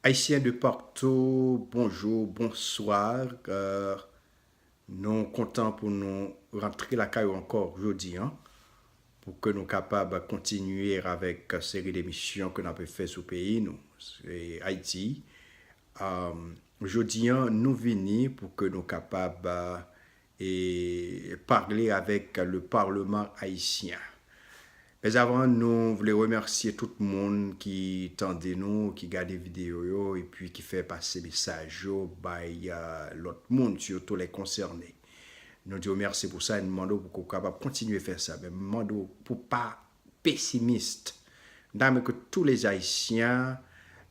Ayisyen de partou bonjou bonswa nou kontan pou nou rantre lakay ou ankò jodi an pou ke nou kapab kontinye avèk seri de emisyon ke nou ape fè sou peyi nou se Ayiti jodi an nou vini pou ke nou kapab e parle avèk le parlement haïtien mes amours nou vle remèsye tout moun ki tande nou ki gade video yo epi ki fè pase mesaj yo bay lòt moun surtout les concernés nou diw mèsi pou sa e nou mande w pou kapab kontinye fè sa men nou mande w pou pa pesimist dame ke tou les Haïtiens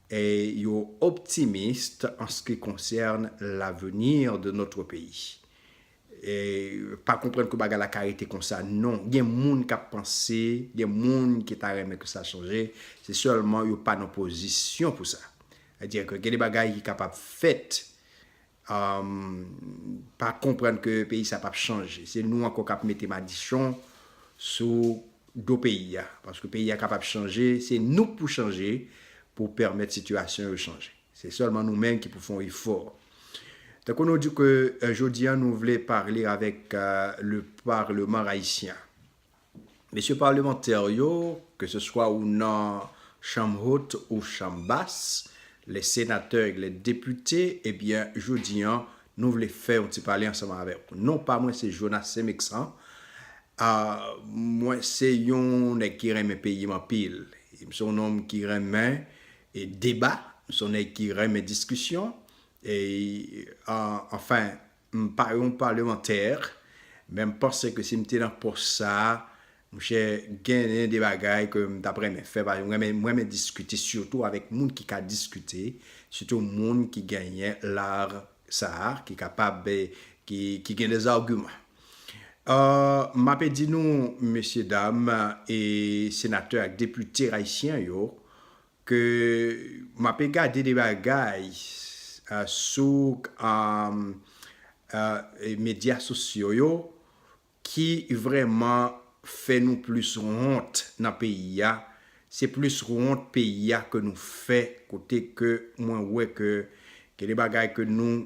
yo optimist en ce qui concerne l'avenir de notre pays. Pa konprann ke bagay la ka rete konsa non. Gen moun kap panse, gen moun ki ta renmen ke sa chanje, se sèlman yo pa nan pozisyon pou sa. Sa vle di ke gen de bagay ki kapab fèt pa konprann ke peyi sa pap chanje se nou ankò kap mete madichon sou do peyi a paske peyi a kapab chanje se nou k pou chanje pou pèmèt sitiyasyon yo chanje se sèlman nou menm ki pou fon efò tankou nou di ke jodi a nou vle parle avèk le parleman ayisyen Mesye Palemantè yo, ke se swa ou nan Chanm Hot ou Chanm Bas, les Senatè e les Depite, ebyen jodi an, nou vle fè yon ti pale ansanm avèk ou. Non pa mwen se Jonas Semexan, mwen se yon nèg ki renmen peyi m anpil. M se yon nonm ki renmen deba, m se yon nèg ki renmen diskisyon, e anfen, M pa yon palemantè, men m panse ke si m te nan pòs sa a, monchè, genyen de bagay ke m t ap renmen fè. Paske m renmen, m renmen diskite, sitou avèk moun ki ka diskite, sitou moun ki genyen lar sa a, ki kapab, ki, ki gen des arguments. M ape di nou, mesye dam e senatè ak depite ayisyen yo, Ke m ape gade de bagay sou medya sosyo yo ki vrèman fè nou plis wont nan peyi a, se plis wont peyi a ke nou fè kote ke mwen wè ke gen de bagay ke nou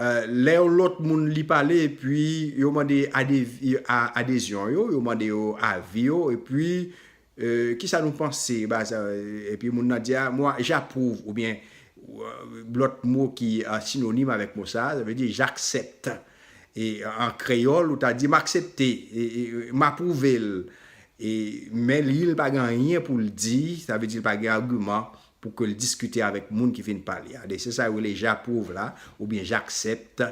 Lè yon lòt moun li pale epi yo mande adezyon yo, yo mande yo avi yo, epi ki sa nou panse, epi moun nan di a, mwa j'approuve, oubyen lòt mo ki sinonim avèk mo sa, sa vle di j'accepte. E an kreyòl ou ta di m'aksepte, m'apwouve l. Men li l pa gen anyen pou l di, sa vle di l pa gen agiman pou ke l diskite avèk moun ki fin pale a. Se sa yo rele j'approuve la oubyen j'accepte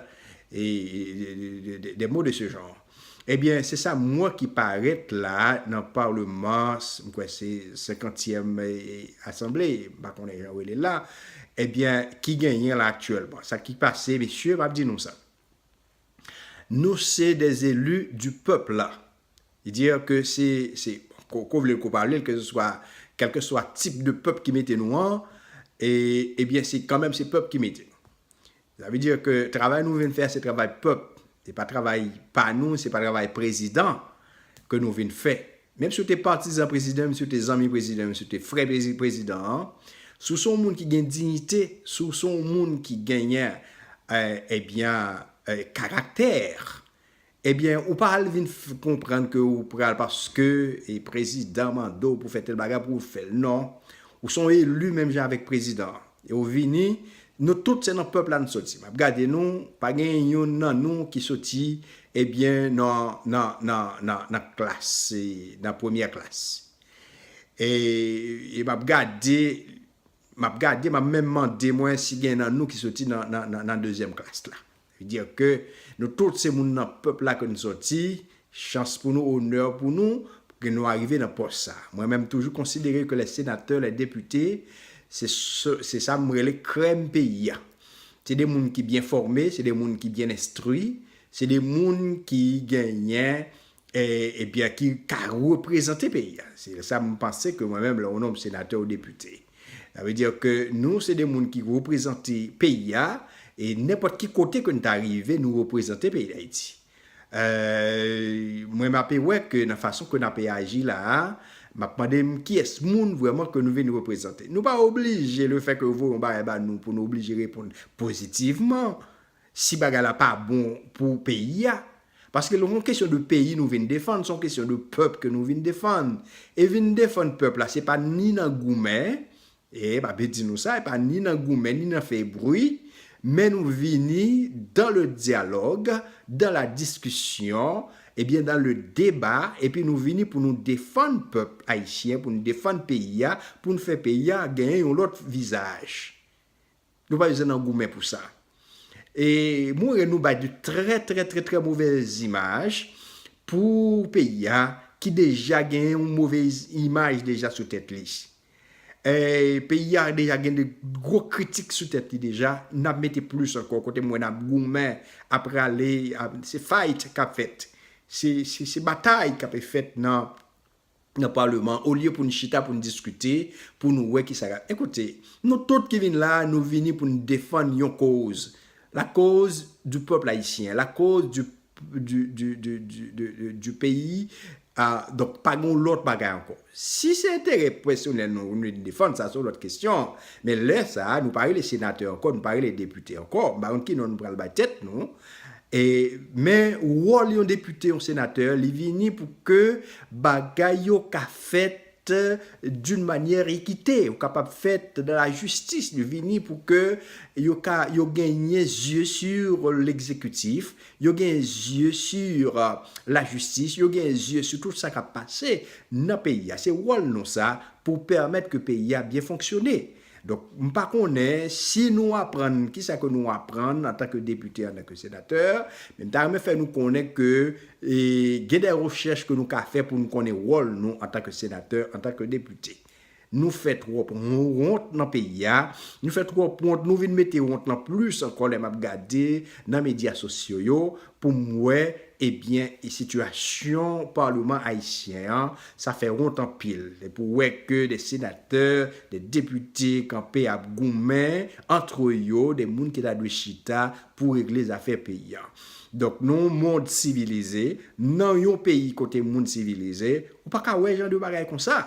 des mots de ce genre. Ebyen, se sa mwen ki parèt la nan parleman, m kwè se senkantyèm asanble, m pa konnen jan yo rele l la, ebyen ki genyen la aktyèlman. Sa ki pase mesye, m ap di nou sa. Nou se des elus du peuple la. Li di ke se, se, ko ko vle l ko pa vle l, keseswa, kelkeswa tip de pèp ki mete nou an, e, ebyen se kanmenm se pèp ki mete nou. Sa vle di ke travay nou vin fè a se travay pèp, se pa travay pa nou, se pa travay prezidan ke nou vin fè. Menm si w te patizan prezidan, menm si w te zanmi prezidan, menm si w te frè prezidan an, si w se yon moun ki gen dignite, si w se yon moun ki genyen ebyen karaktè, ebyen ou pa al vin konprann ke ou pral paske prezidan mande w pou fè tèl bagay pou w fè l non. Ou se yon elu menm jan avèk prezidan an. Yo vini, nou tout se nan pèp la n soti. M ap gade nou, pa genyen youn nan nou ki soti ebyen nan nan nan nan nan klas se nan premyè klas. E e m ap gade m ap gade m ap menm mande mwen si gen nan nou ki soti nan nan nan nan dezyèm klas la. Veut dire que nou tout se moun nan pèp la ke nou sòti, chans pou nou, honneur pou nou, ke nou arive nan pòs sa. Mwen menm toujou konsidere ke les senatè, les depite, se se sa m rele krèm peyi a. Se de moun ki byen fòme, se de moun ki byen enstri, se de moun ki genyen e byen ki ka reprezante peyi a, se sa m panse ke mwen menm lè yon nonm senatè ou depite. Sa vle di ke nou se de moun ki reprezante peyi a, e nenpòt ki kote ke nou ta rive nou reprezante peyi Dayiti. Mwen m ape wè ke nan fason ke n ape aji la a, m ap mande m kiyès moun vrèman ke nou vin reprezante. Nou pa oblije le fè ke yo voye yon bagay ba nou pou nou oblije reponn pozitivman. si bagay la pa bon pou peyi a, paske lè son kesyon de peyi nou vin defann, son kesyon de pèp ke nou vin defann, e vin defann pèp la se pa ni nan goumen, e pa pe di nou sa, e pa ni nan goumen, ni nan fè bri, men nou vini dan le dyalòg, dan la diskisyon, e byen dan le deba, e pi nou vini pou nou defann pèp ayisyen, pou nou defann peyi a, pou nou fè peyi a genyen yon lòt vizaj. Nou pa bezwen nan goumen pou sa. E moure nou bay de trè trè trè trè movèz imaj pou peyi a ki deja gen yon movèz imaj deja sou tèt li. E peyi a deja gen de gwo kritik sou tèt li deja, n ap mete plis ankò kote m wè n ap goumen, ap rale, se fight k ap fèt. Se batay k ape fèt nan. nan paleman olye pou n chita pou n diskite pou nou wè kisa ka ekoute nou tout ki vin la nou vini pou n defann yon koz la koz di pèp ayisyen la koz di di di di di di di peyi a donk pa gen yon lòt bagay ankò si se enterè pèsonèl nou nou vin defann sa se yon lòt kesyon men lè sa nou pa rele senatè ankò nou pa rele depite ankò m pa konn ki non nou pral bay tèt nou E men wòl yon depite, yon senatè, li vini pou ke bagay yo ka fèt d'une manière équitée, yo kapab fèt dans la justice, li vini pou ke yo ka, yo genyen zye sur l'exécutif, yo genyen zye sur la justice, yo genyen zye sou tout sa kap pase nan peyi a. Se wòl nou sa pou pèmèt ke peyi a byen fonksyone. Donk, m pa konnen si nou aprann ki sa ke nou aprann antan ke depite, antan ke senatè, men m ta renmen fè nou konnen ke gen de rechèch ke nou ka fè pou nou konnen wòl nou antan ke senatè, antan ke depite. Nou fè twòp wont nan peyi a, nou fè twòp wont, nou vin mete wont lan plis ankò lè m ap gade nan medya sosyo yo, pou m wè ebyen sitiyasyon parleman ayisyen an sa fè wont anpil pou wè ke de senatè de depite kanpe ap goumen antre yo de moun ki ta dwe chita pou regle zafè peyi an donk nan yon mond sivilize nan yon peyi kote moun sivilize ou pa ka wè jan de bagay konsa.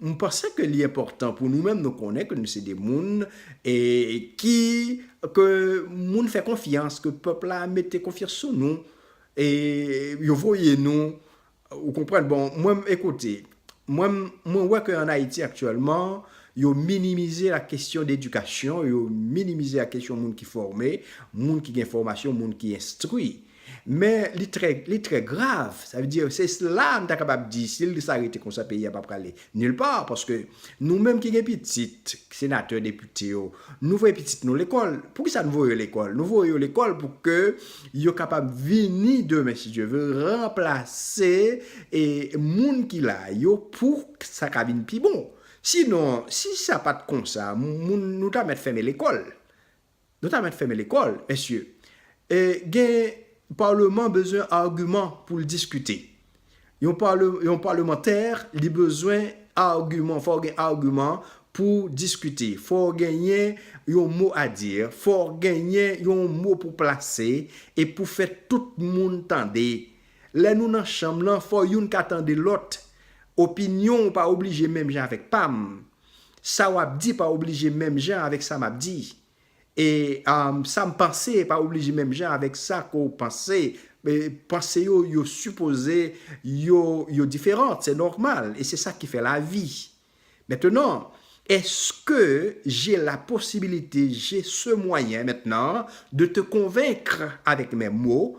M panse ke li enpòtan pou nou menm nou konnen ke nou se de moun e ki ke moun fè konfyans, ke pèp la mete konfyans sou nou e yo voye nou ou konprann. Bon mwen m ekoute, mwen m mwen wè ke an Ayiti aktyèlman yo minimize la kesyon d'edikasyon, yo minimize la kesyon moun ki fòme, moun ki gen fòmasyon, moun ki enstwi. Men li trè li trè grav, sa vle di se la nou ta kapab di si l sa rete konsa peyi a pa prale nil pa paske nou menm ki gen pitit senatè depite yo nou voye pitit nou lekòl poukisa nou voye yo lekòl nou voye yo lekòl pou ke yo kapab vini demen si Dye ve ranplase e moun ki la yo pou sa ka vin pi bon sinon si sa pat konsa moun nou ta mèt fèmen lekòl. Nou ta mèt fèmen lekòl mesye. E gen parlement bezwen argument poul diskite. Yon parlemantè li bezwen argument fòw gen argument pouw diskite fòw genyen yon mo a dire fòw genyen yon mo pou plase e pou fè tout moun tande lè nou nan chanm lan fò youn ka tande lòt opinionw pa oblije menm jan avèk pam Sa wap di pa oblije menm jan avèk sa map di. E sam panse pa oblije menm jan avèk sa ke w panse. Panse yo yo sipoze yo yo diferant, se nòmal e se sa ki fè lavi. Mentenan, eske je la posibilite, je se mwayen mentnan de te konvenkr avèk mè mo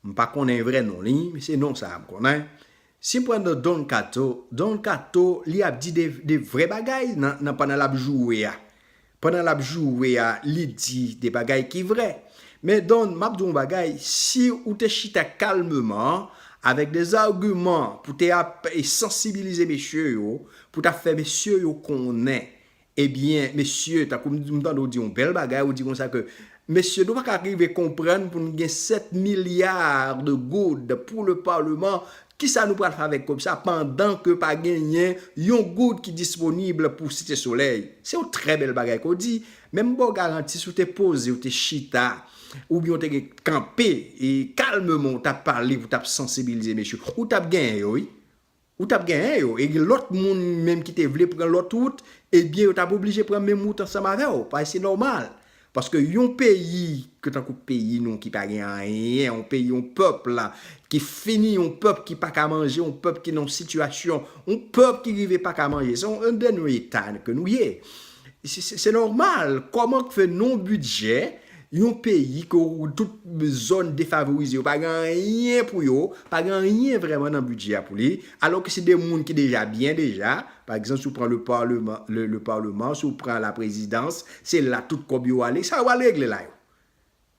M pa konnen vrè non li, men se non sa a m konnen. Si m pran non Don Kato, Don Kato li ap di de vrè bagay nan pandan l ap joure a. Pandan l ap joure a, li di de bagay ki vrè. Men Don, m ap di w yon bagay, si ou te chita kalmeman, avèk de zagiman pou te ap sansibilize mesye yo, pou ta fè mesye yo konnen Ebyen mesye tankou m m tande w di yon bèl bagay ou di konsa ke mesye nou pa ka rive konprann pou n gen 7 milliards de goud pou le parlement kisa nou pral fè avèk kob sa pandan ke pa genyen yon goud ki disponible pou site solèy se yon trè bèl bagay ke w di men m ba w garanti si w te poze w te chita oubyen w te gen kanpe e kalmeman w tap pale pou w tap sansibilize mesye ou tap genyen yo wi. Ou tap genyen yo e gen lòt moun menm ki te vle pran lòt wout ebyen yo tap oblije pran menm wout ansanm avèw paske se nòmal paske yon peyi ke tankou peyi nou ki pa gen anyen yon peyi yon pèp ki fini yon pèp ki paka manje yon pèp ki nan yon sitiyasyon yon pèp ki rive paka manje se yon dènye eta ke nou ye se nòmal kòman k fè nan yon bidjè Yon peyi ke ou tout zòn defavorize yo pa gen anyen pou yo, pa gen anyen vrèman nan bidjè a pou li, alò ke se de moun ki deja byen deja, pa egzanp si ou pran le parleman, le parleman, si ou pran la prezidans, se la tout kòb yo ale, sa yo pral regle la yo?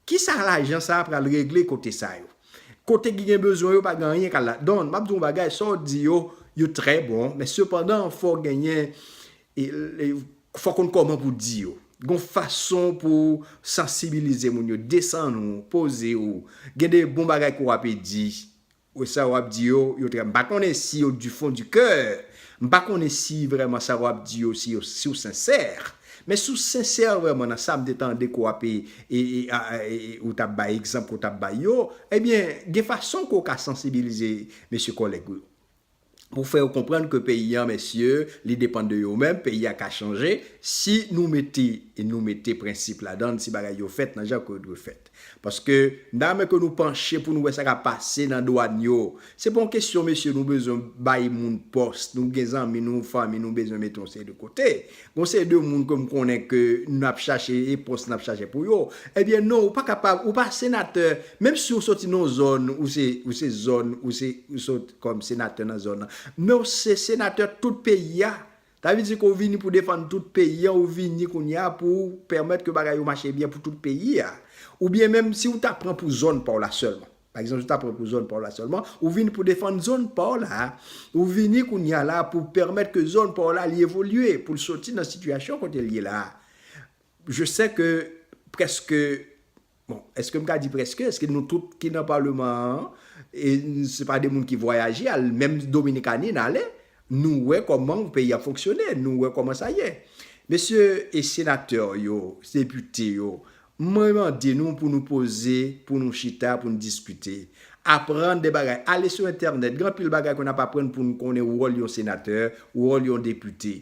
Kisa lajan sa a pral regle kote sa yo? Kote ki gen bezwen yo pa gen anyen kal la. Don, m ap di w yon bagay, sa w di yo, yo trè bon, men sepandan fò genyen Fò w konn kòman pou w di yo. Gen yon fason pou w sansibilize moun yo. Desann ou, poze ou. Gen de bon bagay ke w ape di. Ou sa w ap di yo, yo trè. M pa konnen si yo du fon du kè. M pa konnen si vrèman sa w ap di yo, si w sensè. Men si w sensè vrèman nan sa m te tande ke w ape, ou t ap bay egzanp ke w t ap bay yo, ebyen gen fason ke w ka sansibilize mesye kòlèg ou yo. pou fè yo konprann ke peyi an mesye li depann de yo menm, peyi a ka chanje si nou mete nou mete prensip ladann, si bagay yo fèt nan jan ke yo dwe fèt. Paske nan men ke nou panche pou nou wè sa kap pase nan dwàn yo, se pa yon kesyon mesye nou bezwen bay moun pòs, nou gen zanmi nou, fanmi nou bezwen mete yon seri de kote Gon seri de moun ke m konnen ke n ap chache e pòs n ap chache pou yo. Ebyen non ou pa kapab, ou pa senatè, menm si ou soti nan yon zòn, ou se, ou se zòn, ou se, ou sot kòm senatè nan zòn nan, men ou se senatè tout peyi a. Sa vle di ke ou vini pou defann tout peyi a, ou vini kounye a pou ou pèmèt ke bagay yo mache byen pou tout peyi a. Oubyen menm si ou ta pran pou zòn pa w la sèlman. Pa egzanp si w ta pran pou zòn pa w la sèlman, ou vini pou defann zòn pa w la, ou vini kounye a la a pou pèmèt ke zòn pa w la li evolye, pou l soti nan sitiyasyon kote l ye la a. Je sè ke prèske, bon, èske m ka di prèske, èske nou tout ki nan paleman an, e se pa de moun ki vwayaje al, menm Dominikani n ale, nou wè kòman peyi a fonksyone, nou wè kòman sa ye. Mesye senatè yo, depite yo, Mwen mande nou pou nou poze, pou nou chita, pou nou diskite. Aprann de bagay. Ale sou entènèt. Gen anpil bagay ke n ap aprann pou nou konnen wòl yon senatè, wòl yon depite.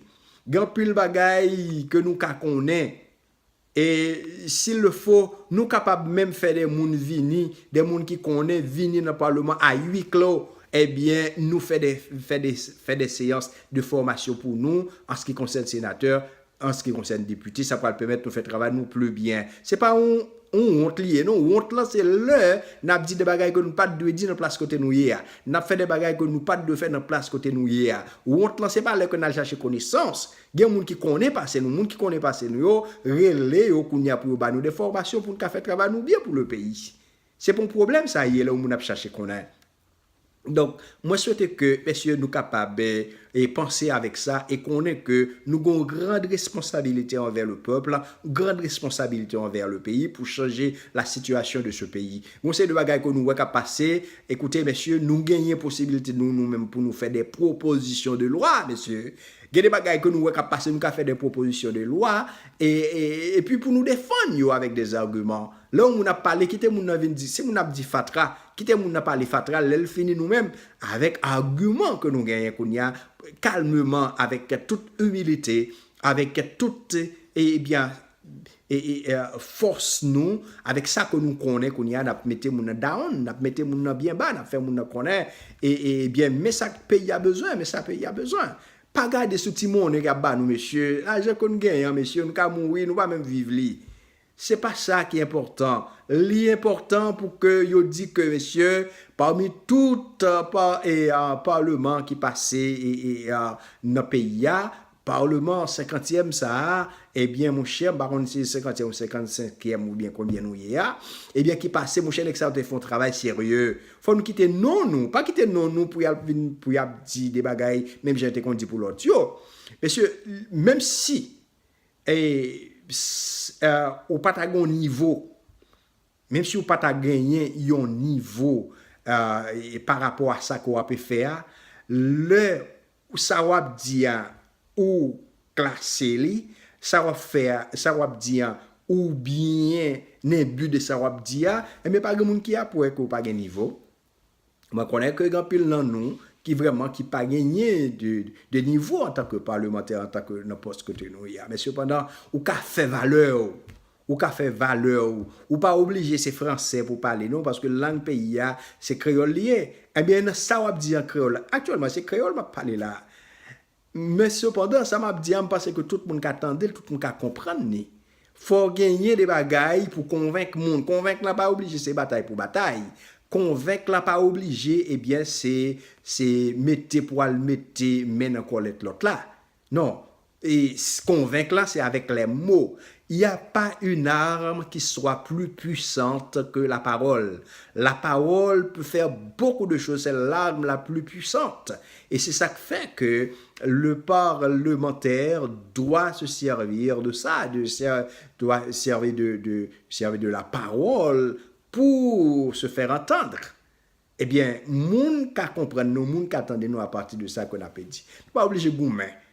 Gen anpil bagay ke nou ka konnen. E s'il le faut, nou kapab menm fè de moun vini, de moun ki konnen, vini nan paleman a hui clos. Ebyen, nou fè de, fè de, fè de seyans de fòmasyon pou nou, an se ki konsène senatè, An ce qui concerne depute, sa pral pèmèt nou fè travay nou plus byen. Se pa yon yon wont li ye non, wont lan se lè n ap di de bagay ke nou pa t dwe di nan plas kote nou ye a, n ap fè de bagay ke nou pa t dwe fè nan plas kote nou ye a. Wont lan se pa lè ke n al chache konesans. Gen moun ki konnen pase nou, moun ki konnen pase nou yo, rele yo kounye a pou yo ba nou de fòmasyon pou n ka fè travay nou byen pou le peyi. Se pa yon pwoblèm sa ye lè yon moun ap chache konnen. Donk, mwen swete ke mesye nou kapab panse avèk sa e konnen ke nou gen yon grand responsabilite anvè le peuple, grand responsabilite anvè le peyi pou chanje la situation de ce peyi. Yon seri de bagay ke nou wè kap pase, ekoute mesye nou genyen posibilite nou nou menm pou nou fè de proposition de loi mesye, gen de bagay ke nou wè kap pase nou ka fè de proposition de loi e pi pou nou defann yo avèk des arguments. Lè yon moun ap pale kite moun nan vin di, si moun nan ap di fatra, kite moun nan pale fatra, lè l fini nou menm avèk agiman ke nou genyen kounye a, kalmeman avèk tout imilite, avèk tout ebyen fòs nou, avèk sa ke nou konnen kounye a, n ap mete moun nan down, n ap mete moun nan byen ba, n ap fè moun nan konnen ebyen men sa peyi a bezwen, men sa peyi a bezwen. Pa gade sou ti monnen y ap ba nou mesye, lajan ke nou genyen an mesye nou ka mouri nou pa menm viv li. Se pa sa ki enpòtan. Li enpòtan pou ke yo di ke mesye, pami tout parleman ki pase nan peyi a, parleman senkantyèm sa a, ebyen monchè, m pa konn si se senkantyèm ou senkansenkyèm oubyen konbyen nou ye a, ebyen ki pase, monchè nèg sa yo te fè yon travay serye. Fò nou kite non nou, pa kite non nou pou y ap vin, pou y ap di de bagay menm jan yo te konn di pou lòt yo. Mesye, menm si Eeh eh ou pata gen yon nivo, menm si ou pata genyen yon nivo eh pa rapò a sa ke w ape fè a, lè sa w ap di a ou klase li, sa w ap fè a, sa w ap di a ou byen enbi de sa w ap di a, enben pa gen moun ki ap wè ke ou pa gen nivo. Mwen konnen ke gen anpil nan nou ki vreman ki pa genyen de nivo an tan ke palemantè, an tan ke nan pòs kote nou ye a. Men sepandan, ou ka fè valè ou. Ou ka fè valè ou. Ou pa oblije se franse pou w pale non, paske lang peyi a, se kreyòl li ye. Enben, nan sa w ap di an kreyòl la, aktyèlman se kreyòl m ap pale la a. Men sepandan, sa m ap di a, m panse ke tout moun ka tande l, tout moun ka konprann li. Fò w genyen de bagay pou w konvenk moun. Konvenk la pa oblije se batay pou batay. Konvenk la pa oblije, ebyen, se, se mete pou al mete men nan kòlèt lòt la. Non. E, konvenk la se avèk lè mo. Il y a pas une arme qui soit plus puissante que la parole. La parole peut faire beaucoup de choses, c'est l'arme la plus puissante. E se sa k fè ke le parlemantè dwa se sèvi de sa, de sè, dwa sèvi de, de, sèvi de la pawòl pou se fèr antandr. Ebyen, moun ka konprann nou, moun ka tande nou apati de sa ke n ape di. Nou pa oblije goumen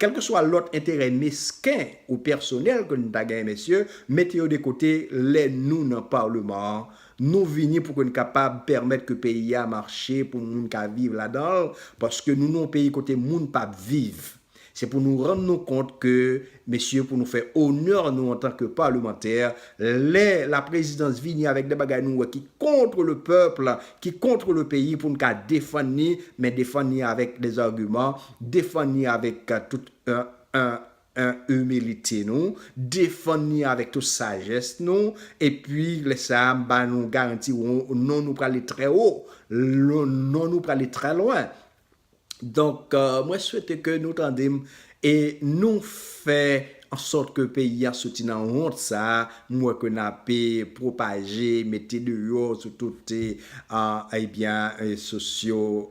Kèlkeswa lòt enterè mesken ou pèsonèl ke n ta genyen mesye, mete yo de kote lè nou nan Paleman an. Nou vini pou ke n kapab pèmèt ke peyi a mache pou moun ka viv ladan l, paske nou nan yon peyi kote moun pa p viv. Se pou nou rann nou kont ke mesye pou nou fè onè nou antan ke palemantè, lè laprezidans vini avèk de bagay nou wè ki kontre le pèp, ki kontre le peyi pou n ka defann li, men defann li avèk des arguments, Defann ni avèk tout imilite nou, defann ni avèk tout sajès nou, epi lè sa a m ba nou garanti non nou prale trè wo, non nou prale trè lwen. Donk mwen swete ke nou tande m e nou fè ansòt ke peyi a soti nan wont sa a m wè ke n ape pwopaje, mete deyò sou tout ebyen sosyo.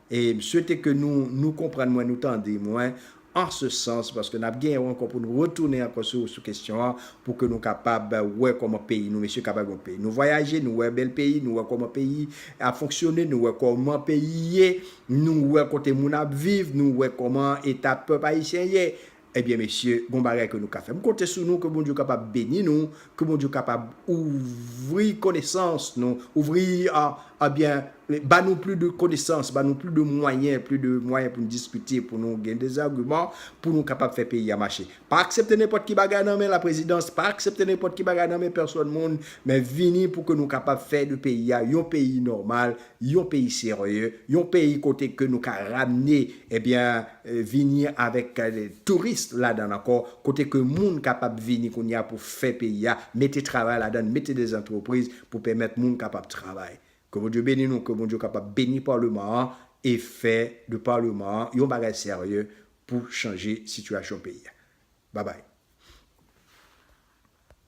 e m swete ke nou nou konprann mwen, nou tande mwen an se sans, paske n ap gen yon ankò pou nou retounen ankò sou sou kesyon an, pou ke nou kapab wè kòman peyi nou mesye kapab yon peyi. Nou vwayaje, nou wè bèl peyi, nou wè kòman peyi ap fonksyone, nou wè kòman peyi ye, nou wè kote moun ap viv, nou wè kòman eta pèp ayisyen ye, Ebyen mesye gon bagay ke nou ka fè. M konte sou nou ke Bondye kapab beni nou, ke Bondye kapab ouvri konesans nou, ouvri ebyen ba nou pli de konesans, ba nou pli de mwayen, pli de mwayen pou nou diskite, pou nou gen de agiman, pou nou kapab fè peyi a mache. Pa aksepte nenpòt ki bagay nan men la prezidans, pa aksepte nenpòt ki bagay nan men pèsòn moun, men vini pou ke nou kapab fè de peyi a yon peyi nòmal, yon peyi serye, yon peyi kote ke nou ka ramne ebyen vini avèk touris ladan l ankò, kote ke moun kapab vini kounye a pou fè peyi a, mete travay ladan l, mete de zantrepriz pou pèmèt moun kapab travay. Ke Bondye beni nou, ke Bondye kapab beni Paleman an e fè de Paleman an yon bagay serye pou chanje sitiyasyon peyi a. Babay.